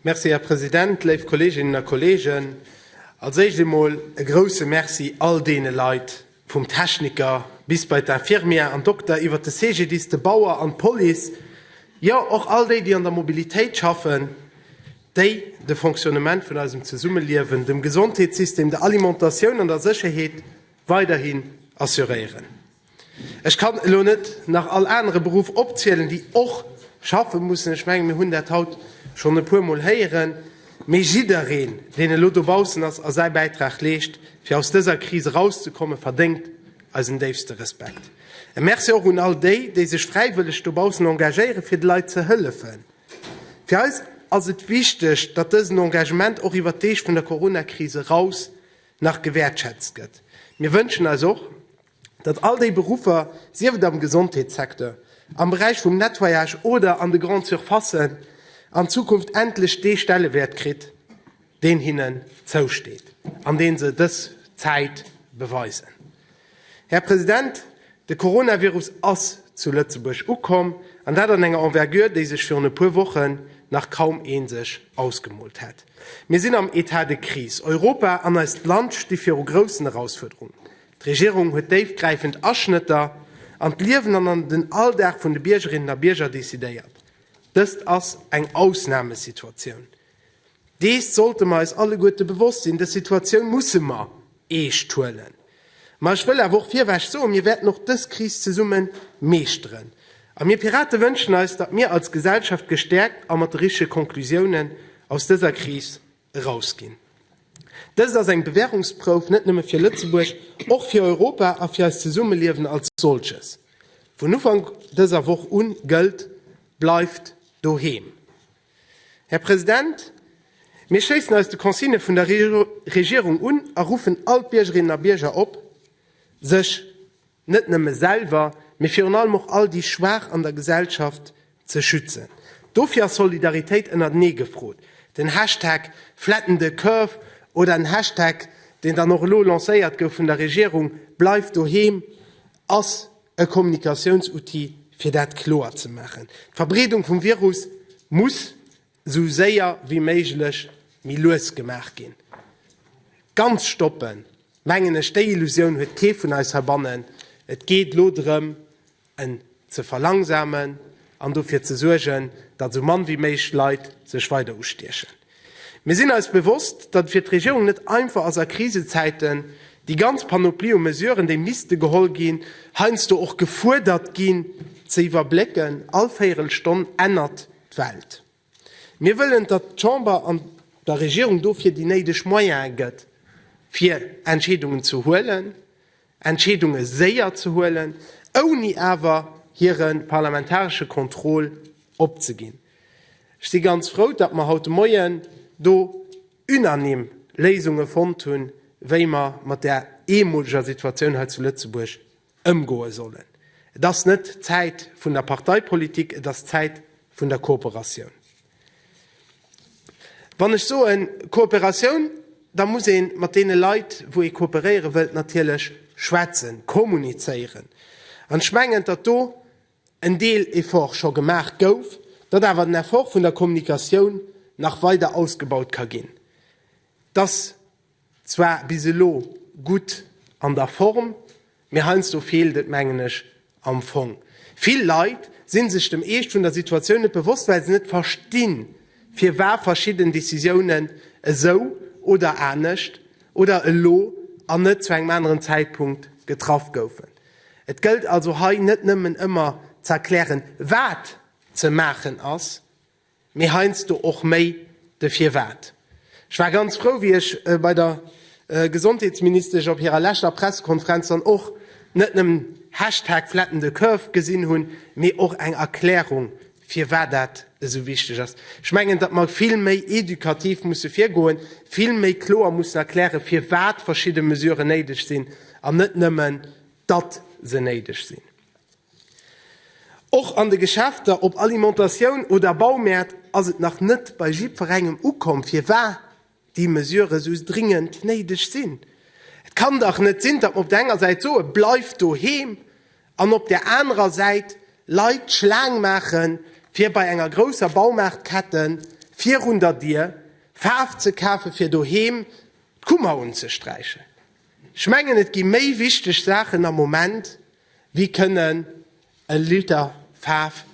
Merci, Här President. Léif Kolleeginnen a Kolleegen, als Éischt eemol e grouse Merci all deene Leit, vum Techniker bis bei d'Infirmière an Dokter, iwwert de CGDIS, de Bauer an d'Police, jo och all déi, déi an der Mobilitéit schaffen, déi de Fonctionnement vun eisem Zesummeliewen, dem Gesondheetssystem, der Alimentatioun an der Sécherheet weiderhin assuréieren. Ech kann elo net nach all anere Beruff opzielen, déi och schaffe mussen. Ech mengen, mir hunn dat haut schonn e puermol héieren. Mee jiddereen, deen elo dobaussen ass a säi Bäitrag leescht, fir aus dëser Kris erauszekommen, verdéngt eisen déifste Respekt. E Merci och un all déi, déi sech fräiwëlleg dobaussen engagéieren, fir de Leit ze hëllefen. Fir eis ass et wichteg, datt dësen Engagement och iwwer d'Deeg vun der Corona-Kris eraus nach gewäertschätzt gëtt. Mir wënschen eis och, datt all déi Beruffer, sief et am Gesondheetssecteur, am Beräich vum Nettoyage oder an de Grandes Surfacen, an Zukunft endlech dee Stellewäert kritt, deen hinnen zousteet an dee se dës Zäit beweisen. Här President, de Coronavirus ass zu Lëtzebuerg ukomm, an dat an enger Envergure, déi sech virun e puer Wochen nach kaum ee sech ausgemoolt hätt. Mir sinn am État de crise. Europa an eist Land sti viru groussen Erausfuerderungen. D'Regierung huet déifgräifend Aschnëtter an d'Liewen an an den Alldag vun de Biergerinnen a Bierger decidéiert. Dëst ass eng Ausnamesituatioun. Dees sollte mer eis alleguerte bewosst sinn. Dës Situatioun musse mer eescht huelen. Ma ech wëll awer och virweg soen, Mir wäerten och dës Kris zesumme meeschteren. A mir Pirate wënschen eis, datt mir als Gesellschaft gestäerkt a mat de richtege Konklusiounen aus dëser Kris erausginn. Dëst ass eng Bewährungsprouf net nëmme fir Lëtzebuerg, och fir Europa a fir eist Zesummeliewen als solches. Vun Ufank dëser Woch un gëllt, Bleift doheem! Här President, mir schléissen eis de Consignë vun der Regierung un a ruffen all d'Biergerinnen a Bierger op, sech net nëmme selwer, mee virun allem och all déi Schwaach an der Gesellschaft ze schützen. Dofir ass Solidaritéit ënnertenee gefrot. Den Hashtag FlattenTheCurve oder en Hashtag, deen dann och elo lancéiert gouf vun der Regierung, BleifDoheem, ass e Kommunikatiounsoutil, fir dat kloer ze maachen. D'Verbreedung vum Virus muss esou séier wéi méiglech méi lues gemaach ginn. Ganz stoppen, mengen ech, déi Illusioun huet kee vun eis heibannen. Et geet elo drëm, en ze verlangsamen an dofir ze suergen, datt esou mann wéi méigch Leit sech weider ustiechen. Mir sinn eis bewosst, datt et fir d'Regierung net einfach ass a Krisezäiten déi ganz Panoplie u Mesuren, déi misste geholl ginn, heiansdo och gefuerdert ginn, ze iwwerblécken. All Véierelstonn ännert d'Welt. Mir wëllen, datt d'Chamber an der Regierung dofir déi néideg Moyene gëtt, fir Entscheedungen ze huelen, Entscheedunge séier ze huelen, ouni awer hire parlamentaresche Contrôle opzeginn. Ech si ganz frou, datt mer haut de Moien do unanime Léisunge fonnt hunn, wéi mer mat där eemoleger Situatioun hei zu Lëtzebuerg ëmgoe sollen. Et ass net d'Zäit vun der Parteipolitik, et ass d'Zäit vun der Kooperatioun. Wann ech soen Kooperatioun, da muss ee mat deene Leit, wou ee kooperéiere wëllt, natierlech schwätzen, kommunizéieren. An ech mengen, datt do en Deel Effort scho gemaach gouf, datt awer den Effort vun der Kommunikatioun nach weider ausgebaut ka ginn, datt, Zwar bis elo gutt an der Form, mee heiansdo feelt et mengen ech am Fong. Vill Leit sinn sech dem Eescht vun der Situatioun net bewosst, well se net verstinn, firwa verschidden Decisiounen esou oder anescht oder elo an net zu engem aneren Zäitpunkt getraff goufen. Et gëllt also hei net nëmmen ëmmer z'erklären, wat ze maachen ass, mee heiansdo och méi de Firwat. Ech war ganz frou, wéi ech bei der Gesondheetsministesch op hirer leschter Pressekonferenz dann och net nëmmen Hashtag flatten the curve gesinn hunn, mee och eng Erklärung, firwat dat esou wichteg ass. Ech mengen, datt mer vill méi edukativ musse virgoen, vill méi kloer mussen erklären, firwat verschidde Mesuren néideg sinn an net nëmmen, datt se néideg sinn. Och an de Geschäfter, op Alimentatioun oder Baumäert, ass et nach net bei jiddwerengem ukomm, firwat déi Mesurë sou dringend néideg sinn. Et kann dach net sinn, datt mer op der enger Säit soe bleift doheem an op där anerer Säit Leit d'Schlaang maache fir bei enger grousser Baumaartkette virun der Dier Faarf ze kafe fir doheem d'Kummer unzesträichen. Ech mengen, et gi méi wichteg Saachen am Moment, Wie kënnen e Liter Faarf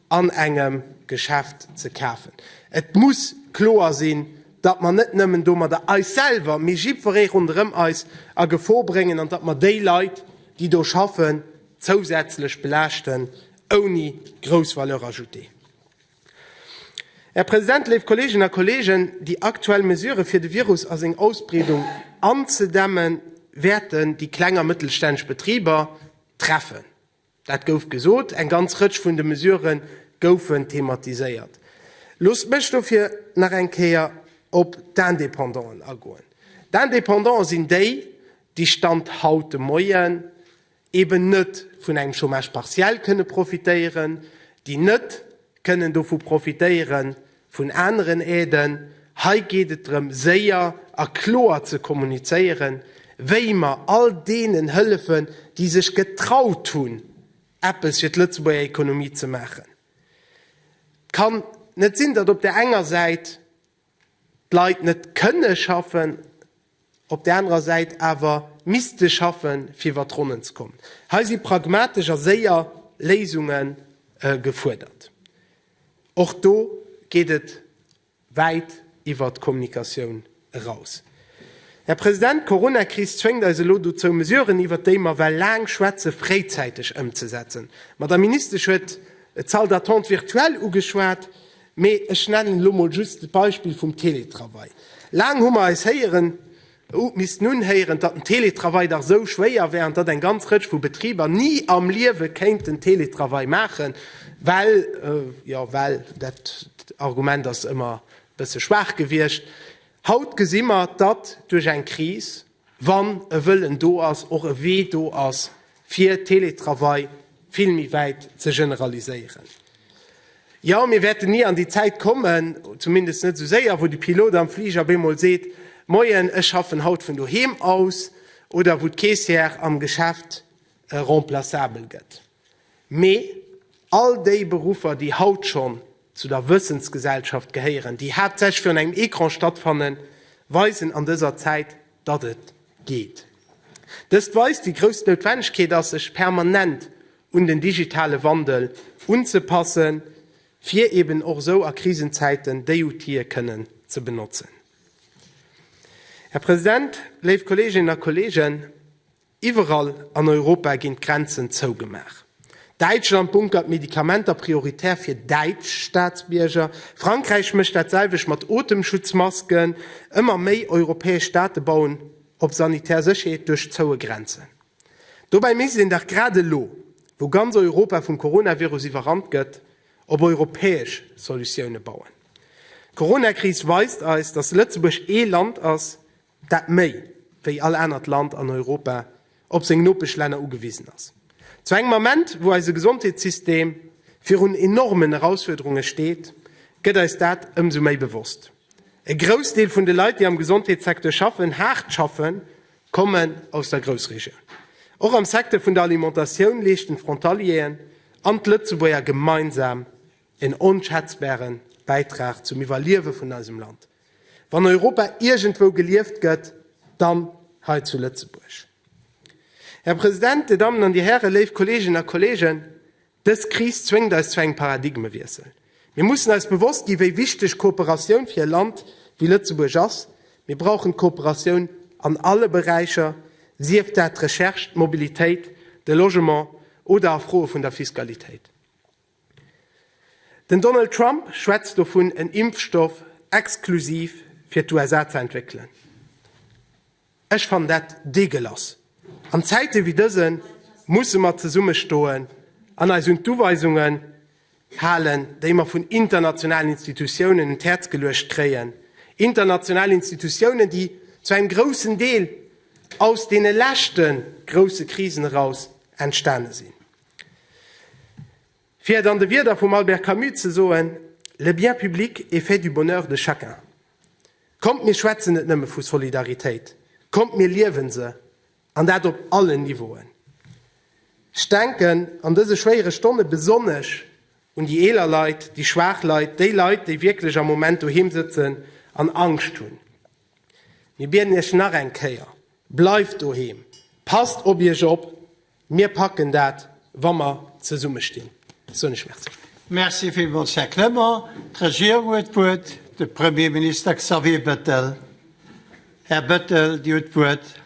an engem Geschäft ze kafen? Et muss kloer sinn, datt mer net nëmmen domadder eis selwer, mee jiddweree ronderëm eis a Gefor bréngen an datt mer déi Leit, déi do schaffen, zousätzlech belaaschten ouni grouss Valeur ajoutée. Här President, léif Kolleeginnen a Kolleegen, déi aktuell Mesurë fir de Virus a seng Ausbreedung anzedämme wäerten déi kleng a mëttelstänneg Betriber treffen. Dat gouf gesot, eng ganz Rëtsch vun de Mesurë goufen thematiséiert. Loosst mech dofir nach eng Kéier op d'Independanten agoen. D'Independante sinn déi, déi Stand haut de Moien, eben net vun engem Chômage partiel kënne profitéieren, déi net kënnen dovu profitéiere vun aneren Aiden. Hei geet et drëm, séier a kloer ze kommunizéieren, wéi mer all deenen hëllefen, déi sech getraut hunn, eppes fir d'Lëtzebuerger Ekonomie ze maachen. Et kann net sinn, datt op där enger Säit, d'Leit net kënne schaffen, op där anerer Säit awer misste schaffe fir iwwer d'Ronnen ze kommen. Hei si pragmatesch a séier Léisunge gefuerdert. Och do geet et wäit iwwer d'Kommunikatioun eraus. Här President, d'Coronakris zwéngt eis elo dozou, Mesuren, iwwer déi mer well laang schwätzen, fréizäiteg ëmzesetzen. D'Madame Ministesch huet d'Salle d'attente virtuelle ugeschwat. Mee ech nennen elo mol just d'Beispill vum Teletravail. Laang hu mer eis héieren, ou missten unhéieren, datt den Teletravail dach esou schwéier wär an datt eng ganz Rëtsch vu Betriber ni am Liewe kéinten Teletravail maachen, well, jo well, dat Argument ass ëmmer e bësse schwaach gewiescht. Haut gesi mer, datt duerch eng Kris, wann e Wëllen do ass, och e Wee do ass, fir Teletravail vill méi wäit ze generaliséieren. Jo, mir wäerten ni an déi Zäit kommen, zumindest net esou séier, wou de Pilot am Fliger op eemol seet, Moien, ech schaffen haut vun doheem aus, oder wou d'Caissière am Geschäft remplaçabel gëtt. Mee all déi Beruffer, déi haut schonn zu der Wëssensgesellschaft gehéieren, déi haaptsächlech virun engem Ecran stattfannen, weisen an dëser Zäit, datt et geet. Dëst weist, wéi grouss d'Noutwennegkeet ass, sech permanent un den digitale Wandel unzepassen, fir eben och esou a Krisenzäiten déi Outile kënnen ze benotzen. Här President, léif Kolleeginnen a Kolleegen, Iwwerall an Europa ginn d'Grenzen zougemaach. Däitschland bunkert Medikamenter prioritär fir däitsch Staatsbierger. Frankräich mécht dat selwecht mat Otemschutzmasken. Ëmmer méi europäesch Staate bauen op sanitär Sécherheet duerch zoue Grenzen. Dobäi misst een dach grad elo, wou ganz Europa vum Coronavirus iwwerrannt gëtt, op europäesch Solutioune bauen. D'Coronakris weist eis, datt Lëtzebuerg ee Land ass, dat méi wéi all anert Land an Europa op seng Nopeschlänner ugewisen ass. Zu engem Ament, wou eise Gesondheetssystem virun enormen Erausfuerderunge steet, gëtt eis dat ëmsou méi bewosst. E Groussdeel vun de Leit, déi am Gesondheetssecteur schaffen, haart schaffen, kommen aus der Groussregioun. Och am Secteur vun der Alimentatioun leeschten d'Frontalieren an d'Lëtzebuerger gemeinsam en onschätzbare Bäitrag zum Iwwerliewe vun eisem Land. Wann Europa iergendwou gelieft gëtt, dann hei zu Lëtzebuerg. Här President, Dir Dammen an Dir Hären, léif Kolleeginnen a Kolleegen, dës Kris zwéngt eis zu engem Paradigmewiessel. Mir mussen eis bewosst ginn, wéi wichteg Kooperatioun fir e Land wéi Lëtzebuerg ass. Mir brauchen d'Kooperatioun an alle Beräicher, sief dat d'Recherche, d'Mobilitéit, de Logement oder a Froe vun der Fiskalitéit. Den Donald Trump schwätzt dovun en Impfstoff exklusiv fir d'USA ze entwéckelen. Ech fannen dat deegelass. An Zäite wéi dëse musse mer zesumme stoen an eis un d'Uweisungen halen, déi mer vun internationalen Institutiounen un d'Häerz geluecht kréien, international Institutiounen, déi zu engem groussen Deel aus deene leschte grousse Krisen eraus entstane sinn. Fir et an de Wierder vum Albert Camus ze soen, Le bien public est fait du bonheur de chacun. Kommt mir schwätzen net nëmme vu Solidaritéit, kommt mir liewen se, an dat op allen Niveauen. Ech denken an dëse schwéiere Stonne besonnesch un déi eeler Leit, déi schwaach Leit, déi Leit, déi wierklech am Moment doheem sëtzen an Angscht hunn. Mir bieden Iech nach eng Kéier, Bleift doheem, passt op Iech op, Mir packen dat, wa mer zesumme stinn, soen ech Merci. Merci villmools, Här Clement. D'Regierung huet d'Wuert, de Premierminister Xavier Bettel. Här Bettel, Dir hutt d'Wuert.